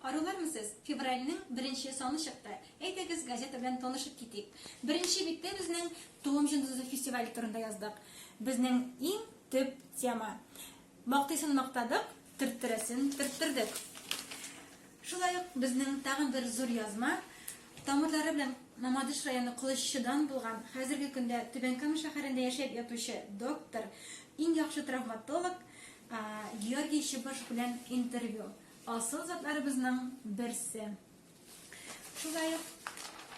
Арулармы сез? Февральнең беренче саны чыкты. Әйдәгез, газета белән танышып китик. Беренче биттә безнең Туым җондызы фестивале турында яздык. Безнең иң төп тема. Мактыйсын мактадык, төрттерәсен төрттердек. Шулай ук безнең тагын бер зур язма, тамырлары белән Мамадыш районы Кылыччыдан булган, хәзерге көндә Түбән Кама шәһәрендә яшәп ятучы доктор, иң яхшы травматолог, Георгий Чыбыш белән интервью. Асыл затларыбызның берсе. Шулай ук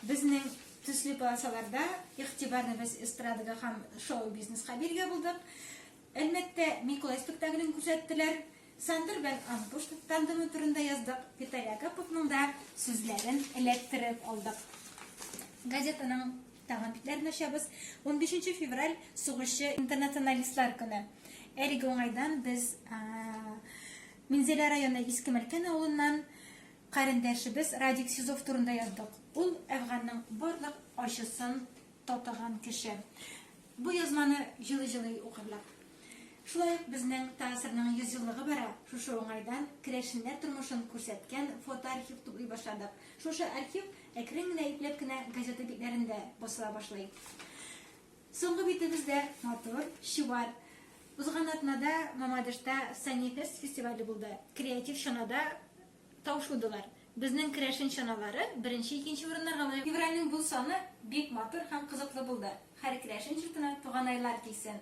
безнең төсле полосаларда игътибарны без эстрадага һәм шоу-бизнеска биргә булдык. Әлмәттә Миколай спектаклен күрсәттеләр. Сандыр белән Анкуш тандемы турында яздык. Виталий Агаповның да сүзләрен эләктереп алдык. Газетаның Тагын битләрен ачабыз. Унбишенче февраль, сугышчы интернационалистлар көне. Әлеге уңайдан без Минзәлә районы Иске Мәлкән авылыннан карендәшебез Радик Сизов турында яздык. Ул әфганның барлык ачысын татыган кеше. Бу язманы җылы-җылы укырлар. Шулай ук безнең ТАССРның 100 еллыгы бара. Шушы уңайдан керәшеннәр тормышын күрсәткән фотоархив туплый башладык. Шушы архив Әкрен генә, ипләп кенә газета битләрендә басыла башлый. Соңгы битебез дә матур, чуар. Узган атнада Мамадышта Санифест фестивале булды. Креатив чанада таушудылар. Безнең керәшен чаналары беренче, икенче урыннарга лаек. Февральнең бу саны бик матур һәм кызыклы булды. Һәр керәшен җортына туганайлар килсен!